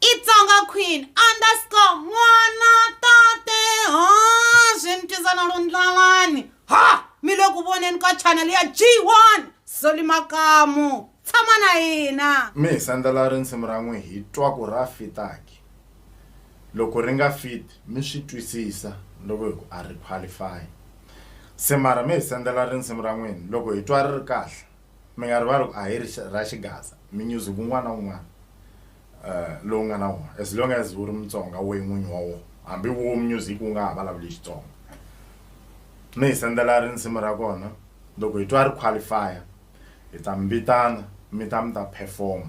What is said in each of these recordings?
Itsonga Queen underscore n'wana tate ha swi ni twisa na lundlalani ha mi le ku voneni ka channel ya G1 Soli Makamu tshama na hina mi hi sendela risimu ra n'wi hi twa ku ra fitaki loko ri nga fit mi swi twisisa loko hi ku a ri qualify se mara mi hi sendela risimu ra n'wini loko hi twa ri ri kahle Mi nga rivali ku a hi ri ra xigaza mi nyuzi ku n'wana un'wana uh, lowu nga na wona as long as wu ri mutsonga we n'winyi wa wona hambi wo music wu nga ha vulavuli xitsonga mi hi sendela rinsimu ra kona loko hi twa ri qualifya hi ta mi vitana mi ta mi ta perform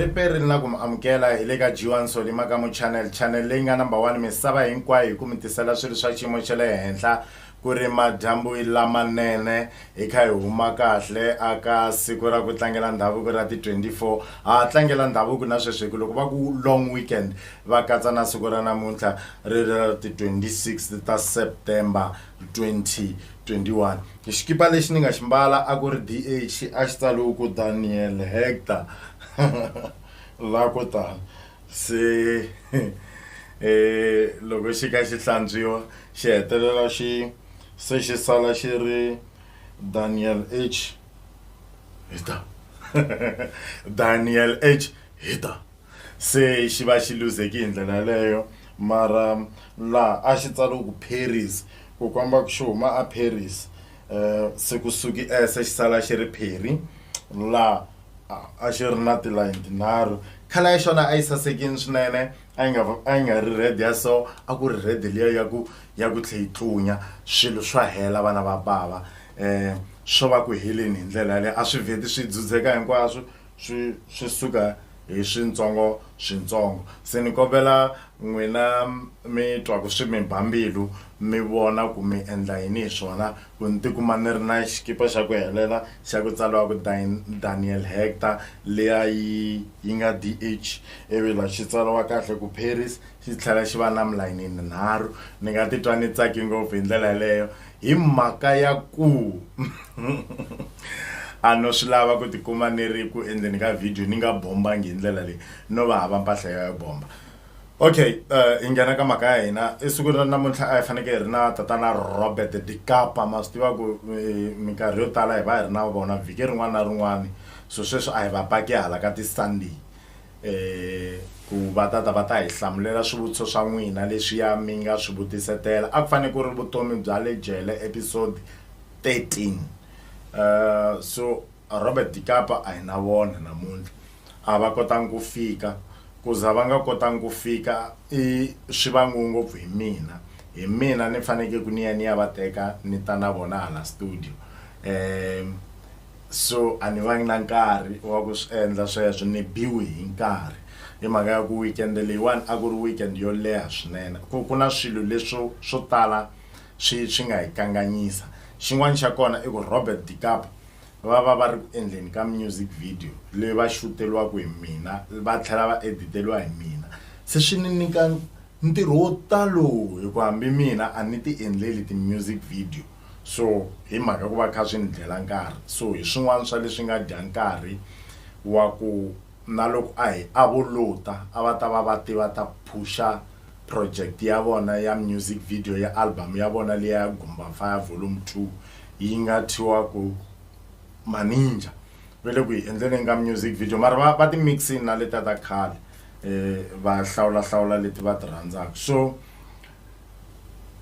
riperi ri na ku mi amukela hi le ka jiwan soli makamu channel channel leyi nga number one misava hinkwayo hi ku mi tisela swilo swa xiyimo xa le henhla ku ri madyambu lamanene hi kha hi huma kahle aka siku ra ku tlangela ndhavuko ra ti-24 ha tlangela ndhavuko na sweswi hi ku loko va ku long weekend va katsa na siku ra namuntlha ri ri ra ti-26 ta september 2021 xikipa lexi ni nga xi mbala a ku ri dh a xi tsaliwe ku daniel hector la ko tani se um loko xi ka xi hlantswiwa xi hetelela xi se xi sala xi ri daniel h hector daniel h hector Se xi va xi luzheki hi ndlela yaleyo, mara laha a xi tsariwe ku Pheris ku komba ku xi huma aPheris, se ku suki e se xi sala xi ri Pheri, laha a xi ri na tilayini tinharhu. Colour ya xona a yi sasekile swinene, a yi nga a yi nga ri red ya so, a ku ri red liya ya ku ya ku tlhe yi tlunya. Swilo swa hela vana va bava, swo va ku heleni hi ndlela yaleyo. A swi vheti swi dzudzeka hinkwaswo, Swi swi suka hi swintsongo swintsongo se ni kombela n'wina mi twa ku swi mi ba mbilu mi vona ku mi endla yini hi swona ku ni tikuma ni ri na xikipa xa ku helela xa ku tsaliwa ku Daniel Hector liya yi yi nga D_H ivi la xi tsaliwa kahle ku Paris xi tlhela xi va na milayini yinharhu ni nga titwa ni tsake ngopfu hi ndlela yeleyo. hi mhaka ya ku a no swi lava ku tikuma ni ri ku endleni ka video ni nga bombangi hi ndlela leyi no va hava mpahla ya bomba okay uh, hi nghena ka mhaka ya hina esiku ra namuntlha a hi fanekele hi ri na tatana robert dikapa ma swi tiva ku eh, minkarhi yo tala hi va hi ri na vona vhiki rin'wana na rin'wana so sweswi a hi va paki hala ka ti-sunday um ku va ta ta va ta hi hlamulela swivutiso swa n'wina leswiya mi nga swi vutisetela a ku fanele ku ri vutomi bya le jele episode 13 um eh, so robert dikapa a hi na vona namuntlha a va kotangi ku fika ku za va nga kotangi ku fika i swi vangiwe ngopfu hi mina hi mina ni fanekele ku ni ya ni ya va teka ni ta na vona hala studio um so a ni vangi na nkarhi wa ku swi endla sweswo ni biwi hi nkarhi hi mhaka ya ku weekend leyiwani a ku ri weekend yo leha swinene ku ku na swilo leswo swo tala swi swi nga hi kanganyisa xin'wana xa kona i ku Robert Dicap va va va ri ku endleni ka music video leyi va xuteriwaka hi mina va tlhela va editeliwa hi mina se swi ni nyika ntirho wo talo hi ku hambi mina a ni ti endleli ti-music video. So hi mhaka ku va kha swi ni dlela nkarhi so hi swin'wana swa leswi nga dya nkarhi wa ku na loko a hi a vo lota a va ta va va te va ta phusha project ya vona ya music video ya album ya vona leya ya gumba fire volume two yi nga thiwa ku maninja va le ku yi endleleni ka music video mara va va ti mixini na leta ta khale um va hlawulahlawula leti va ti rhandzaka so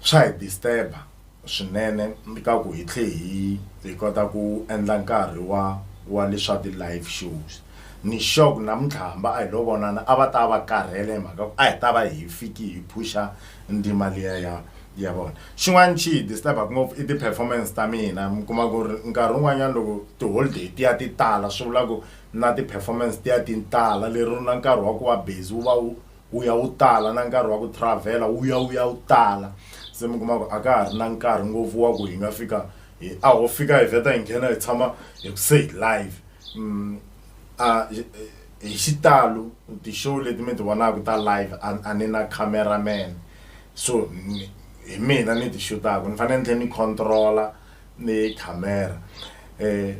swa hi disturb-a swinene ni ka ku hi tlhe hi hi kota ku endla nkarhi wa wa leswa ti live shows ni sure ku namuntlha hamba a hi lo vonana a va ta va karhele hi mhaka a hi ta va hi fiki hi phusha ndima liya ya ya vona xin'wana xi disturbaku ngopfu i ti-performance ta mina mi kuma ku ri nkarhi wun'wanyana loko ti-holiday ti ya ti tala swi vula ku na ti-performance ti ya ti tala lero na nkarhi wa ku va busy wu va wu wu ya wu tala na nkarhi wa ku travel-a wu ya wu ya wu tala se mi kuma ku a ka ha ri na nkarhi ngopfu wa ku hi nga fika hi a ho fika hi vheta hi nghena hi tshama hi ku se hi live um a hi xitalo ti-show leti mi ti vonaka ta live a a ni na camera man so ni- hi mina ni ti xutaka ni fanele ni tlhela ni control-a ni camera um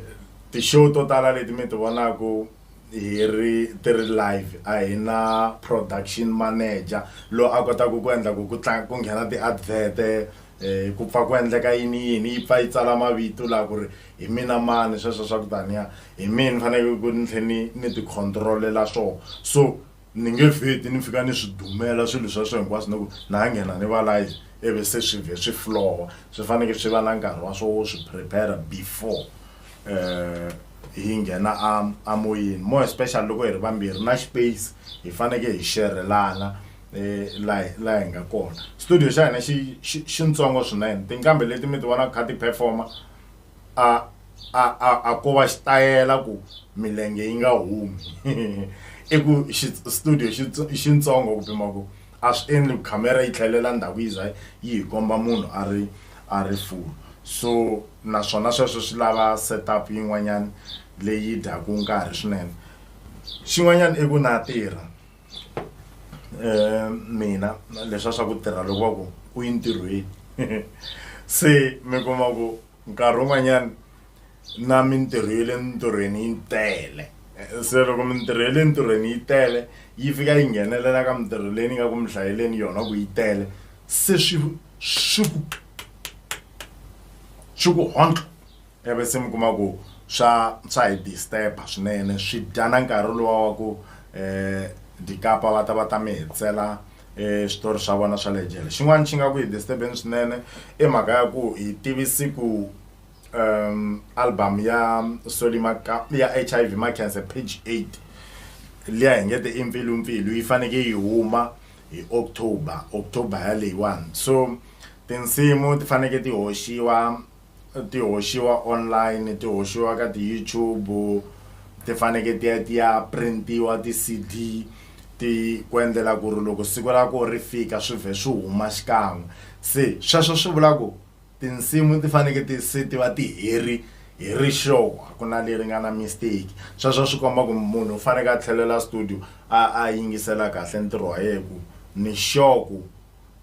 ti-show to tala leti mi ti vonaka hi ri ti ri live a hi na production manager lo a kotaka ku endla ku ku tlanga ku nghena ti-advert um ku pfa ku endleka yini yini yi pfa yi tsala mavito laha ku ri hi mina mani sweswo swa ku taniya hi mina ni fanekele ku ni tlhe ni ni ti control-ela swona so. ni nge vheti ni fika ni swi dumela swilo swa swo hinkwaswo ni ku na ha nghena ni va live ivi se swi vhe swi flowa swi faneke swi va na nkarhi wa swo wo swi prepare before um hi nghena a a moyeni more especially loko hi ri vambirhi na space hi faneke hi xerhelana um la la hi nga kona studio xa hina xi xi xintsongo swinene tinqambi leti mi ti vonaka kha ti performer a a a a ko va xitayela ku milenge yi nga humi i ku studio xitsongo ku pima ku a swi endli ku khamera yi tlhelela ndhawu yi za yi hi komba munhu a ri a ri full so naswona sweswo swi lava setup yin'wanyana leyi dyaku nkarhi swinene xin'wanyana i ku na tirha. um mina leswa swa ku tirha loko va ku u yi ntirhweni se mi kuma ku nkarhi wun'wanyana na mintirho ya le mintirhweni yi tele se loko mintirho ya le ntirhweni yi tele yi fika yi nghenelela ka mintirho leyi ni nga ku mi hlayeleni yona ku yi tele se swi swi ku swi ku hondlo. ivi se mi kuma ku swa swa hi disturb-a swinene swi dya na nkarhi luwa wa ku um dikapa va ta va ta mi hetsela um switori swa vona swa le jele xin'wana xi nga ku hi disturb-eni swinene i mhaka ya ku hi tivisi ku um album ya Solly Maka ya H_I_V Makhense page eight liya hi nge te i Mpfilumpfilu yi faneke yi huma hi October October ya leyiwani so tinsimu ti faneke ti hoxiwa. ti hoxiwa online ti hoxiwa ka ti YouTube ti faneke ti ya ti ya printiwa ti C_D ti ku endlela ku ri loko siku ra koho ri fika swi vhe swi huma xikan'we se sweswo swi vula ku tinsimu ti faneke ti se ti va ti heri hi ri sure a ku na leri nga na mistake sweswo swi komba ku munhu u faneke a tlhelela studio a a yingisela kahle ntirho wa yehe ku ni sure ku.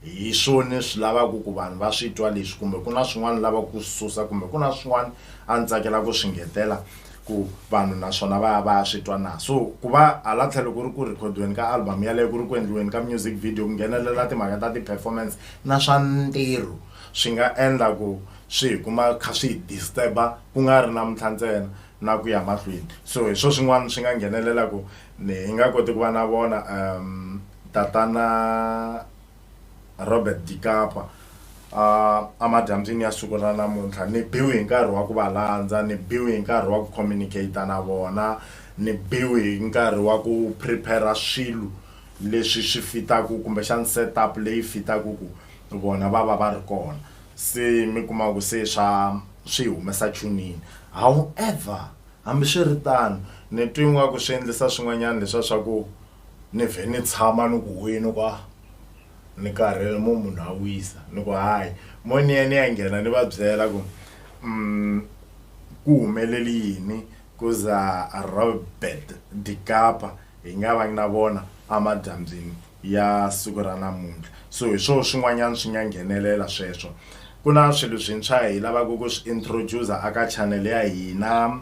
Hi swoni swi lavaku ku vanhu va swi twa leswi kumbe ku na swin'wana ni lavaku ku swi susa kumbe ku na swin'wana a ni tsakela ku swi nghetela ku vanhu naswona va ya va ya swi twa na? So ku va hala tlhelo ku ri ku rhikhodiweni ka album yaleyo ku ri ku endliweni ka music video ku nghenelela timhaka ta ti-performance na swa ntirho swi nga endla ku swi hi kuma kha swi hi disturb-a ku nga ri namuntlha ntsena na ku ya mahlweni so hi swo swin'wana swi nga nghenelelaku ni hi nga koti ku va na vona . Tatana Robert Dikapa a a madyambyini ya siku ra namuntlha ni biwi hi nkarhi wa ku va landza ni biwi hi nkarhi wa ku communicate na vona ni biwi hi nkarhi wa ku prepare swilo leswi swi fitaka kumbexana set up leyi fitaka ku vona va va va ri kona se mi kuma ku se swa swi humesa chunini however hambiswiritano ni twe ingaku swi endlisa swin'wanyana leswiya swa ku. Ni vhe ni tshama ni ku, Wena kwa ni karhele, mo munhu a wisa? Ni ku, Hayi. Mo ni ya ni ya nghena ni va byela ku, Um, ku humelele yini ku za Robert de Capa hi nga vangi na vona amadyambyini ya siku ra namuntlha? So hi swoho swin'wanyana swi nga nghenelela sweswo. Ku na swilo swintshwa hi lavaka ku swi introduce-a aka channel ya hina.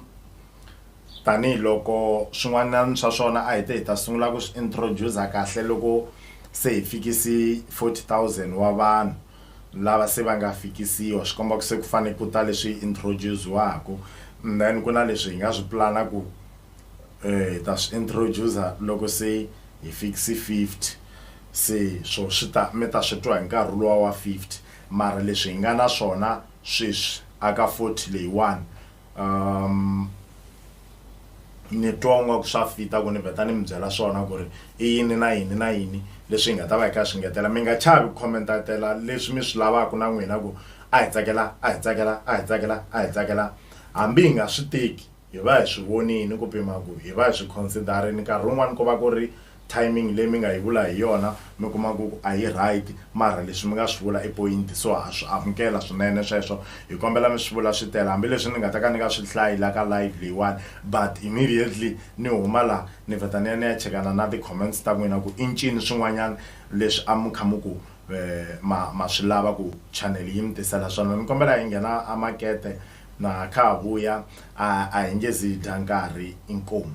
tanihi loko swin'wanyana swa swona a hi te hi ta sungula ku swi introduce kahle loko se hi fikisi forty thousand wa vanhu lava se va nga fikisiwa swi komba ku se ku fane ku ta leswi introduce-ziwaku and then ku na leswi hi nga swi pulana ku hi ta swi introduce-za loko se hi fikise fifty se swo swi ta mi ta swi twa hi nkarhi luwa wa fifty mara leswi hi nga na swona sweswi a ka forty leyiwani Um, ni twa nga ku swa fita ku ni vheta ni mi byela swona ku ri i yini na yini na yini leswi hi nga ta va hi kha hi swi ngetela mi nga chavi ku commentatela leswi mi swi lavaka na n'wina ku a hi tsakela a hi tsakela a hi tsakela a hi tsakela hambi hi nga swi teki hi va hi swi vonini ku pima ku hi va hi swi consider-ini nkarhi wun'wani ku va ku ri timing leyi mi nga yi vula hi yona mi kuma ku a yi right mara leswi mi nga swi vula i point so ha swi amukela swinene sweswo hi kombela mi swi vula swi tele hambileswi ni nga ta ka ni nga swi hlayi la ka live leyiwani but immediately ni huma la ni vheta ni ya ni ya chekana na ti-comments ta n'wina ku i ncini swin'wanyana leswi a mi kha mi ku eh, ma ma swi lava ku channel yi mi tisela swona ni kombela hi nghena a makete na kha ha vuya a a hi nge zi hi dya nkarhi inkomu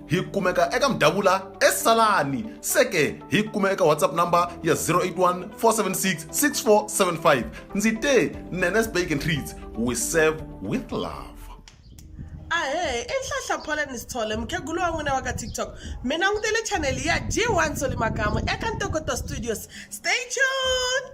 hi kumeka eka mdavula esalani seke hi kume eka whatsapp number ya 081 476 6475 ndzi te nenes bake and treats we serve with love ahe i nhlahla pholeni sithole mukhegulu wa n'wina wa ka tiktok mi langutele chaneli ya g1 solimakamu eka ntokoto studios stay tune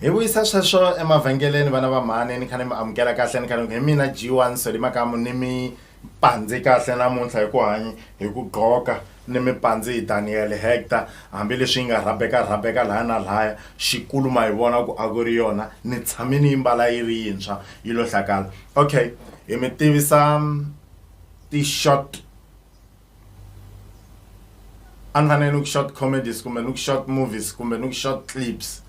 hi vuyisa sweswo emavhengeleni vana va mhani ni kha ni mi amukela kahle ni kha ni hi mina g one soli makamu ni mi pandze kahle namuntlha hi ku hanya hi ku gqoka ni mi pandze hi daniel hector hambileswi yi nga rhabeka rhabeka laya na laya xikulu ma hi vona ku a ku ri yona ni tshame ni yi mbala yi ri yintshwa yi lo hlakala okay hi mi tivisa ti-short a ni fanele ni ku short comedies kumbe ni ku short movies kumbe ni ku short clips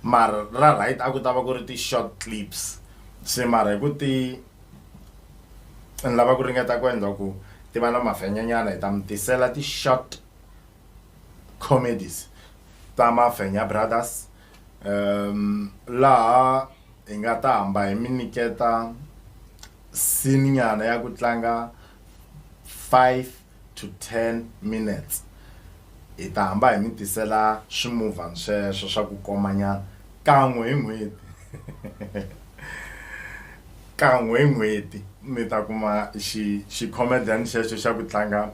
mara ra right a ku ta va ku ri ti-short clips se mara hi ku ti ni lava ku ringeta ku endla ku ti va na mafenyanyana hi ta mi tisela ti-short comedies ta mafenya brothers um laha hi nga ta hamba hi mi nyiketa sininyana ya ku tlanga five to ten minutes hi ta hamba hi mi tisela swimovhana sweswo swa ku komanyana kan'we hi n'hweti kan'we hi n'hweti mi ta kuma xi xi comedian xexo xa ku tlanga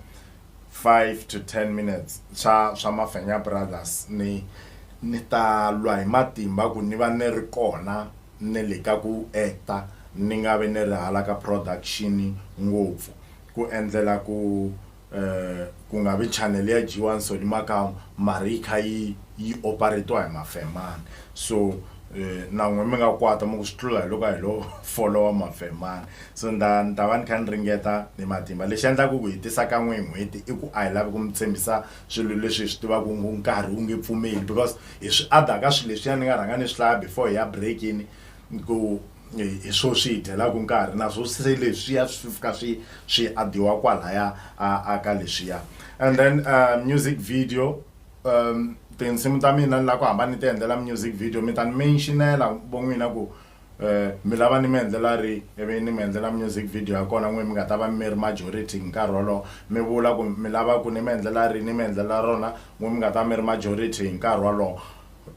five to ten minutes swa swa mafenya brothers ni ni ta lwa hi matimba ku ni va ni ri kona ni le ka ku actor ni nga vi ni ri hala ka production ngopfu ku endlela ku ku nga vi channel ya dyiwa nsoli makamu mara yi kha yi yi operate-iwa hi mafemani so na n'wina mi nga kwata mi ku swi tlula hi loko a hi lo follow-a mafemani so ni ta ni ta va ni kha ni ringeta hi matimba lexi endlaka ku hi tisa kan'we hi n'hweti i ku a hi lavi ku mi tshembisa swilo leswi hi swi tivaka ku nkarhi wu nge pfumeli because hi swi adha ka swilo leswiya ni nga rhanga ni swi hlaya before hi ya breakini ku hi swo swi hi dyelaka nkarhi naswo se leswiya swi fika swi swi adiwa kwalaya a ka leswiya and then uh, music video um tinsimu ta mina ni lava ku hamba ni ti endlela music video mi ta ni mentionela von'wina ku Eh, mi lava ni mi endlela ri ivi ni mi endlela music video ya kona n'we mi nga ta va mi ri majority hi nkarhi wolowo mi vula ku mi lava ku ni mi endlela ri ni mi endlela rona n'we mi nga ta va mi ri majority hi nkarhi wolowo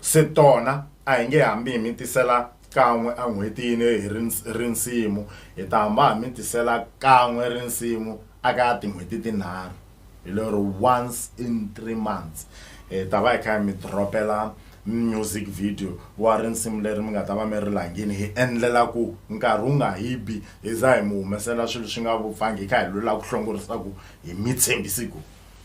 se tona a hi nge hambi hi mi tisela kan'we en'hwetini hi ri ri nsimu hi ta hamba hi mi tisela kan'we rinsimu aka tin'hweti tinharhu hi lero once in three months hi ta va hi kha hi mi dropela music video wa risimu leri mi nga ta va mi ri langini hi endlela ku nkarhi wu nga hi bi hi za hi mi humesela swilo swi nga vupfangi hi kha hi lula ku hlongorisa ku hi mi tshembisi ku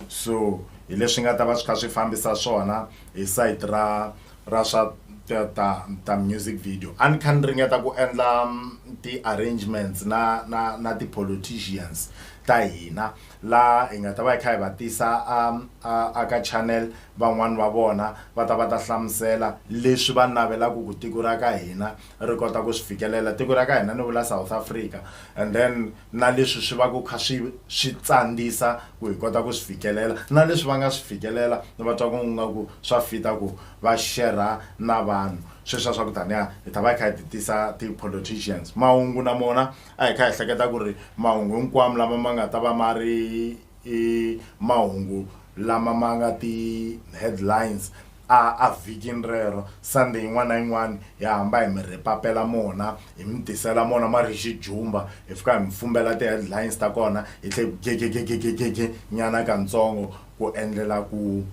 so hi leswi nga ta va swi kha swi fambisa swona hi site ra ra swa ta ta ta music video a ni kha ni ringeta ku endla mm, ti-arrangements na na na ti-politicians ta hina laha hi nga ta va hi kha hi va tisa a a a ka channel van'wani va vona va ta va ta hlamusela leswi va navelaku ku tiko ra ka hina ri kota ku swi fikelela tiko ra ka hina ni vula South Africa and then na leswi swi va ku kha swi swi tsandzisa ku hi kota ku swi fikelela na leswi va nga swi fikelela ni va twa ku nga ku swa fita ku va share-ra na vanhu sweswiya swa ku taniya hi ta va hi kha hi ti tisa ti-politicians mahungu na mona a hi kha hi hleketa ku ri mahungu hinkwamo lama ma nga ta va ma ri i mahungu lama ma nga ti-headlines a a vhikini rero sunday yin'wana na yin'wana hi hamba hi mi rhipapela mona hi mi tisela mona ma ri xijumba hi fika hi mi fumbela ti-headlines ta kona hi tlhe gegegegegege nyana katsongo ku endlela ku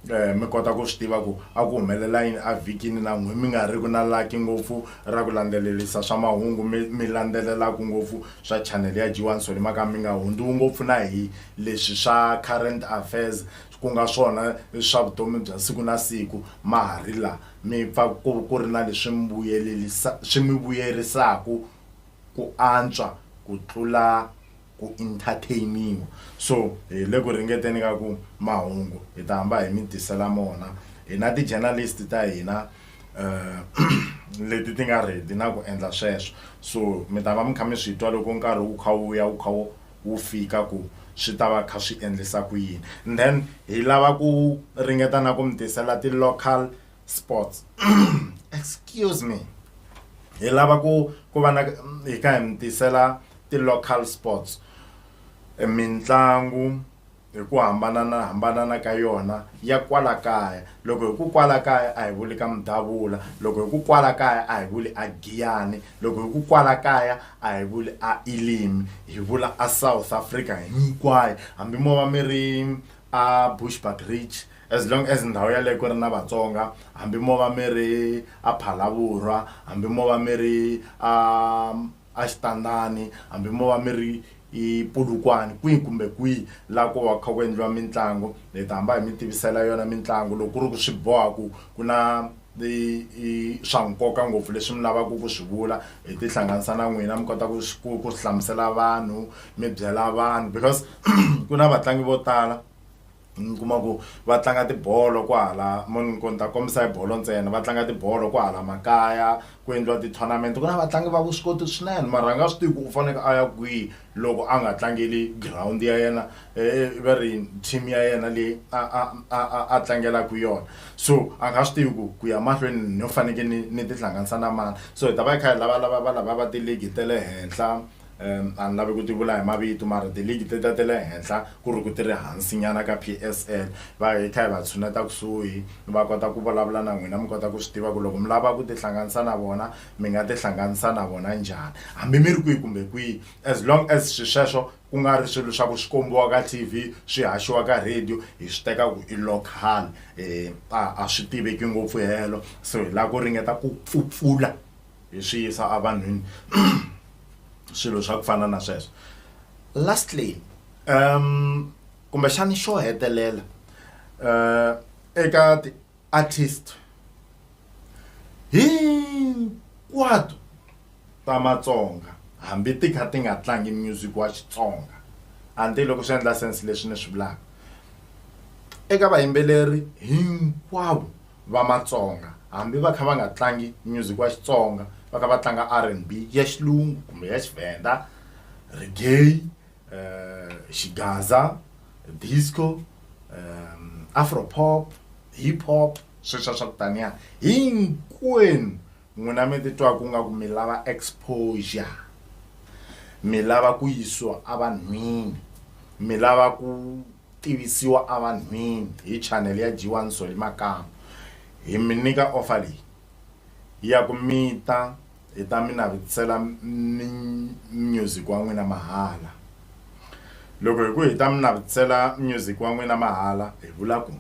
Eh, mi kota ku swi tiva ku a ku humelela yini evhikini na n'we mi nga ri ku na laki ngopfu ra ku landzelelisa swa mahungu mi mi landzelelaka ngopfu swa chanele ya g1 soni maka mi nga hundziwi ngopfu na hi leswi swa current affairs ku nga swona swa vutomi bya siku na siku ma ha ri laha mi pfa ku ku ri na leswi mi vuyelelisa swi mi vuyerisaka ku antswa ku tlula ku entertain-iwa so hi le ku ringeteni ka ku mahungu hi ta hamba hi mi tisela mona hina ti-journalist ta hina um leti ti nga ready na ku endla sweswo so mi ta va mi kha mi swi twa loko nkarhi wu kha wu ya wu kha wu fika ku swi ta va kha swi endlisa ku yini and then hi lava ku ringeta na ku mi tisela ti-local sports excuse me hi lava ku ku va na hi ka hi mi tisela ti-local sports e mitlangu hi ku hambanana hambanana ka yona ya kwala kaya loko hi ku kwala kaya a hi vuli ka mudavula loko hi ku kwala kaya a hi vuli a giyani loko hi ku kwala kaya a hi vuli a elimi hi vula a south africa hinkwayo hambi mo va mi ri a bushback ridge As long as ndhawu yaleyo ku ri na Vatsonga, hambi mo va mi ri aPhalavurwa, hambi mo va mi ri a aXitandani, hambi mo va mi ri iPolokwane, kwihi kumbe kwihi laha ko va ku kha ku endliwa mitlangu, hi ta hamba hi mi tivisela yona mitlangu loko ku ri ku swi boha ku ku na i i swa nkoka ngopfu leswi mi lavaka ku swi vula, hi ti hlanganisa na n'wina mi kota ku swi ku ku swi hlamusela vanhu mi byela vanhu because ku na vatlangi vo tala. mi kuma ku va tlanga tibolo kwahala mo ni ku ni ta kombisa hi bolo ntsena va tlanga tibolo kwahala makaya ku endliwa ti-tournament ku na vatlangi va vuswikoti swinene mara a nga swi tivi ku u faneke a ya kwihi loko a nga tlangeli girawundi ya yena va ri team ya yena leyi a a a a a tlangelaka yona so a nga swi tivi ku ku ya mahlweni no faneke ni ni tihlanganisa na mani so hi ta va hi kha hi lavalava valava va tiligi ta le henhla Um, a ni lavi ku ti vula hi mavito mara tiligi ti ta ti le henhla ku ri ku ti ri hansinyana ka PSL va hi kha hi va tshuneta kusuhi va kota ku vulavula na n'wina mi kota ku swi tiva ku loko mi lava ku tihlanganisa na vona mi nga tihlanganisa na vona njhani hambi mi ri kwihi kumbe kwihi as long as swi sweswo ku nga ri swilo swa ku swi kombiwa ka t v swi haxiwa ka radio hi swi teka ku i local um a swi tiveki ngopfu helo so hi lava ku ringeta ku pfupfula hi swi yisa a vanhwini swilo swa ku fana na sweswo lastly um kumbexani xo hetelela um eka ti-artist hinkwato ta matsonga hambi ti kha ti nga tlangi music wa xitsonga anti loko swi endla sense leswi ni swi vulaka eka vayimbeleri hinkwavo va matsonga hambi va kha va nga tlangi music wa xitsonga va kha va tlanga rnb ya xilungu kumbe ya xivhenda regay um eh, xigaza disco um eh, afropop hip hop sweswa swa ku taniya hinkwenu n'wina mi titwaka u nga ku mi lava exposure mi lava ku yisiwa evanhwini mi lava ku tivisiwa evanhwini hi chanele ya G1 Solly Makamu, hi mi nyika offer leyi ya ku mi ta hi ta mi navetisela music wa n'wina mahala. Loko hi ku hi ta mi navetisela music wa n'wina mahala hi vula ku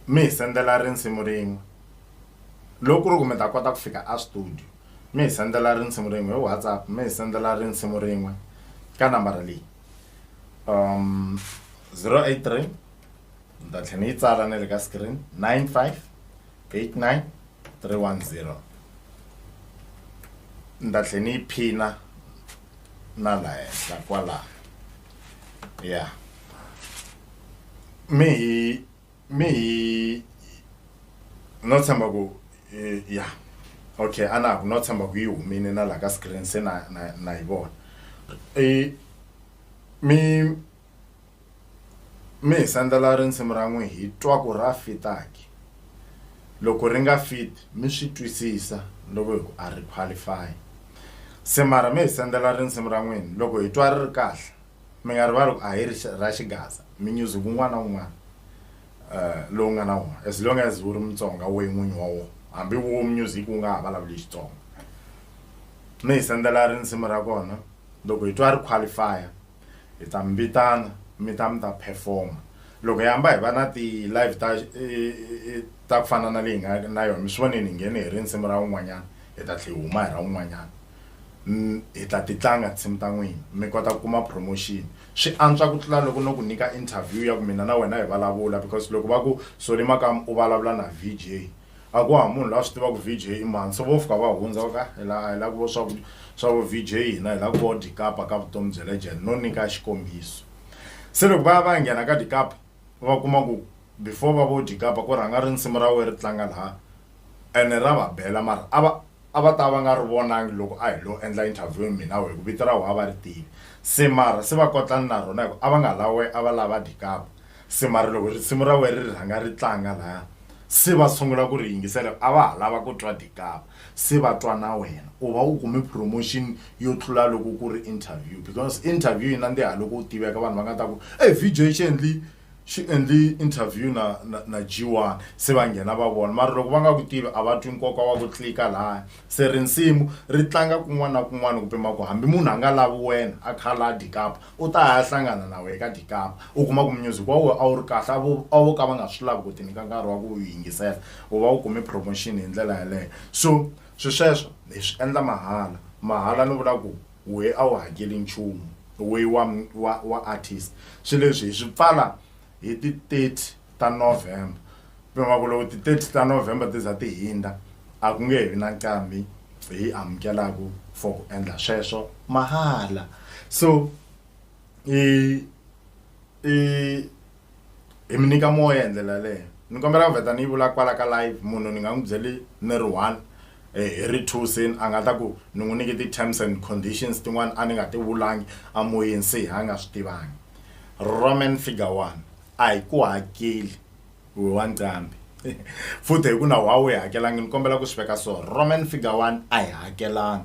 mi hi sendela risimu rin'we loko ku ri ku mi ta kota ku fika a studio. mi hi sendela risimu rin'we hi WhatsApp mi hi sendela risimu rin'we ka nambara leyi um zero eight three ni ta tlhela ni yi tsala na le ka screen nine five eight nine three one zero ni ta tlhela ni yi phina na la henhla kwalaho ya mi hi mme hi no tshemba ku eh, ya okay a na ku no tshemba ku yi humile na laha ka screen se na na na yi vona Eh, mi mi hi sandzela risimu ra n'wi hi twa ku ra fitaki loko ri nga fit mi swi twisisa loko hi ku a ri qualify se mara mi hi sendela risimu ra n'wina loko hi twa ri ri kahle Mi nga rivali ku a hi ri ra xigaza minyuzi ku un'wana na un'wana uh, lowu nga na wona as long as wu ri mutsonga we n'winyi wa wona hambi wo music wu nga ha vulavuli xitsonga mi hi sendzela ri nsimu ra kona loko hi twa ri qualifier hi ta mi vitana mi ta mi ta performa loko hi hamba hi va na ti-live ta ta ku fana na leyi nga na yona mi swi voneni hi nghene hi ri nsimu ra un'wanyana hi ta tlhe hi huma hi ra un'wanyana N, Hi ta titlanga tinsimu ta n'wina, mi kota ku kuma promotion. Swi antswa ku tlula loko no ku nyika interview ya ku mina na wena hi valavula, because loko va ku, Solly Makamu u valavula na VJ, a ku hava munhu loyi a swi tiva ku VJ i mani. So vo fika va hundza, va ku, He, a hi lavi ku vo swa vu, swa vu VJ, hina hi lava ku vo Dikapa ka vutomi bya legend. No nyika xikombiso. Se loko va ya va ya nghena ka Dikapa, va kuma ku before va vo Dikapa ku rhanga rinsimu ra wehe ri tlanga laha, ene ra va bela mara a va, A va ta va nga ri vonangi loko a hi lo endla interview mina we hikuva vito ra we a va ri tivi. Se mara se va kotlani na rona hikuva a va nga la we a va la va dyi kapa. Se mara loko risimu ra we ri rhanga ri tlanga laya se va sungula ku ri yingisela hikuva a va ha lava ku twa dyi kapa. Se va twa na wena u va u kume promotion yo tlula loko ku ri interview because interview yi nandziha loko u tiveka vanhu va nga ta ku e VJ xi endli Xi endli interview na na na G-One se va nghena va vona mara loko va nga ku tivi a va twi nkoka wa ku clicker lahaya se risimu ri tlanga kun'wana na kun'wana ku pima ku hambi munhu a nga lavi wena a kha laha Dikapa u ta ya hlangana na wehe ka Dikapa u kuma ku music wa wehe a wu ri kahle a vo a vo ka va nga swi lavi ku ti nyika nkarhi wa ku yingisela u va u kume promotion hi ndlela yeleyo so swi sweswo hi swi endla mahala mahala ni vula ku. wehe a wu hakeli nchumu wehe wa wa wa artist swi leswi hi swi pfala hi ti 30 ta November pima ku loko ti 30 ta November ti za ti hindza a ku nge he vi na nqambi hi amukelaku for ku endla sweswo mahala so i i hi mi nyika moya hi ndlela yaleyo ni kombela ku vheta ni yi vula kwala ka live munhu ni nga n'wi byeli ni ri one eh, hi ri two seni a nga ta ku ni n'wi nyike ti-terms and conditions tin'wana a ni nga ti vulangi a moyeni se a nga swi tivangi roman figure one a hi ku hakeli we wa ncambi futhi hi ku na wa wu yi hakelangi ni kombela ku swi veka so roman figure one a hi hakelangi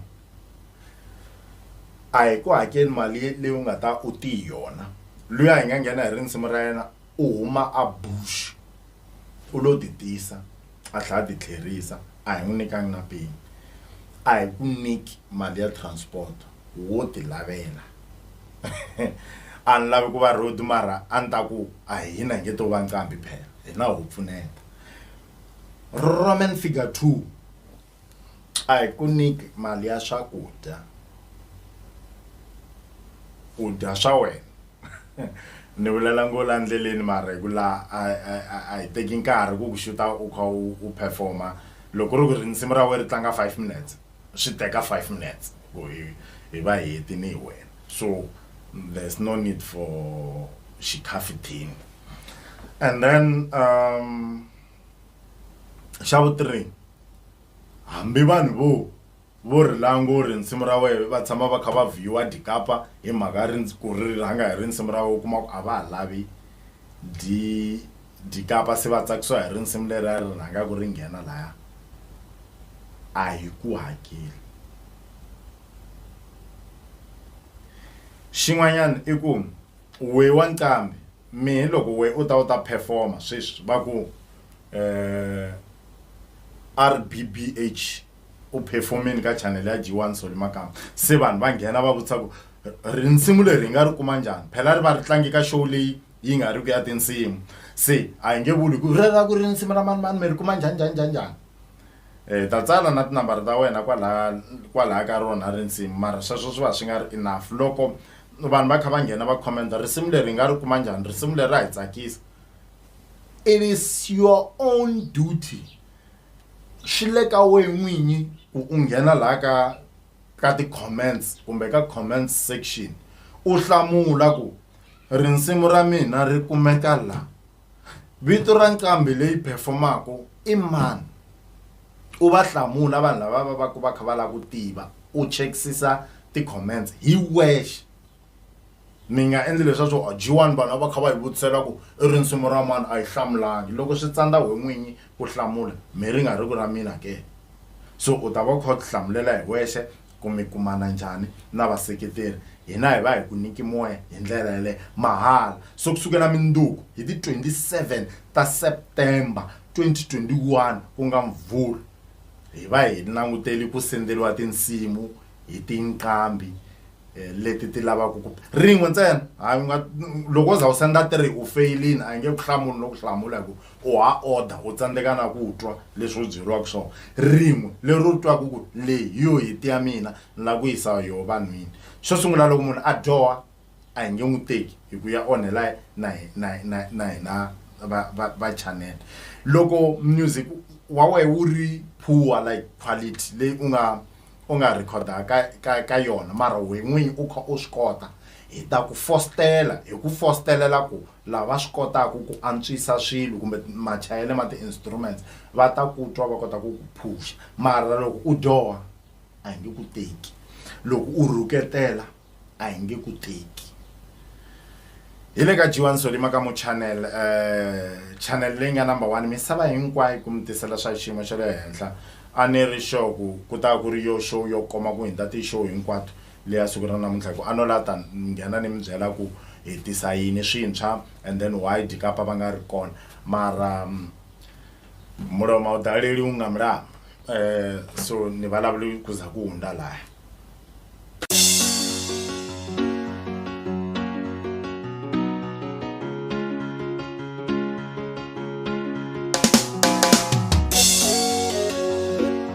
a hi ku hakeli mali leyi u nga ta u ti hi yona loyi a hi nga nghena hi rinsimu ra yena u huma a bush u lo ti tisa a tlhela a ti tlherisa a hi n'wi nyikanga na peni a hi ku nyiki mali ya transport wo ti lavela a ni lavi ku va road mara a ni ta ku a hina hi nge to va nqambi phela hina ho pfuneta roman figure two a hi ku nyiki mali ya swakudya u dya swa wena ni vulela ngo la ndleleni mara hi ku la a hi teki nkarhi ku ku xuta u kha u performa loko ri ku ri nsimu ra wena ri tlanga five minutes swi teka five minutes ku hi hi va heti ni hi wena so there's no need for xikhafuthini and then um xa vu three hambi vanhu vo vo ri lango ri nsimu ra wehe va tshama va kha va vhiyiwa dyikapa hi mhaka ri ku ri rhanga hi ri nsimu ra wehe u kuma ku a va ha lavi dyi dyikapa se va tsakisiwa hi ri nsimu leri a ri rhanga ku ri nghena laya a hi ku hakeli xin'wanyana i ku Wee wa nqambi, mi hi loko wee u ta u ta perform-a sweswi va ku RBBH u perform-ini ka channel ya G1 Solly Makamba. Se vanhu va nghena va vutisa ku rinsimu leri hi nga ri kuma njhani? Phela ri va ri tlange ka show leyi yi nga riki ya tinsimu. Se a hi nge vuli ku rero a ku ri nsimu ra mani mani mi ri kuma njhani njhani njhani njhani. Hi ta tsala na tinambara ta wena kwalaya kwalaya ka rona risimu mara sweswo swi va swi nga ri enough loko vanhu va kha va nghena va commenta risimu leri hi nga ri kuma njhani risimu leri ra hi tsakisa it is your own duty swi le ka wena n'winyi ku u nghena laha ka ka ti-comments kumbe ka comments section u hlamula ku rinsimu ra mina ri kumeka laha vito ra nqambi leyi performaka i mani u va hlamula vanhu lava va va ku va kha va lava ku tiva u chekisisa ti-comments hi wexe mi nga endli leswaku a jiwani vanhu va kha va hi vutisela ku i ri nsimu ra mani a yi hlamulangi loko swi tsandza we n'winyi ku hlamula mi ri nga ri ku ra mina ke so u ta va u kha u tihlamulela hi wexe Ku mi kumana njhani na vaseketeri? Hina hi va hi ku nyiki moya hi ndlela yaleyo mahala. So ku sukela mundzuku hi ti 27 ta September 2021 ku nga Mvhulu, hi va hi langutele ku senderiwa tinsimu hi tinqambi leti ti lavaka ku. Rin'we ntsena. Hayi u nga loko wo za u senda three u feyilini a hi nge ku hlamuli no ku hlamula hi ku u ha odha u tsandzeka na ku twa leswi u byeriwaka swona rin'we leri u twaka ku leyi hi yo hiti ya mina ni lava ku yisa yoho vanhwini xo sungula loko munhu a dyoha a hi nge n'wi teki hi ku ya onhela na na na na hina va va va channel loko music wa wehe wu ri poor like quality leyi u nga u nga rhekhoda ka ka ka yona mara we n'winyi u kha u swi kota hi ta ku fostela hi ku fostelela ku Lava swi kotaka ku antswisa swilo kumbe machayele ma ti-instruments va ta ku twa va kota ku ku phuxa. Mara loko u dyoha a hi nge ku teki, loko u rhuketela a hi nge ku teki. Hi le ka G1 Solly Makamo Channel, channel leyi nga number one misava hinkwayo ku mi tisela swa xiyimo xa le henhla. A ni ri sure ku ku ta va ku ri yoh show yo koma ku hundza ti-show hinkwato. leyi ya siku ra namuntlha hi ku a no la ta nghena ni mi byela ku hi tisa yini swintshwa and then why dikapa va nga ri kona mara mulomo a wu daleli wu nga mulama um so ni vulavuli ku za ku hundza laya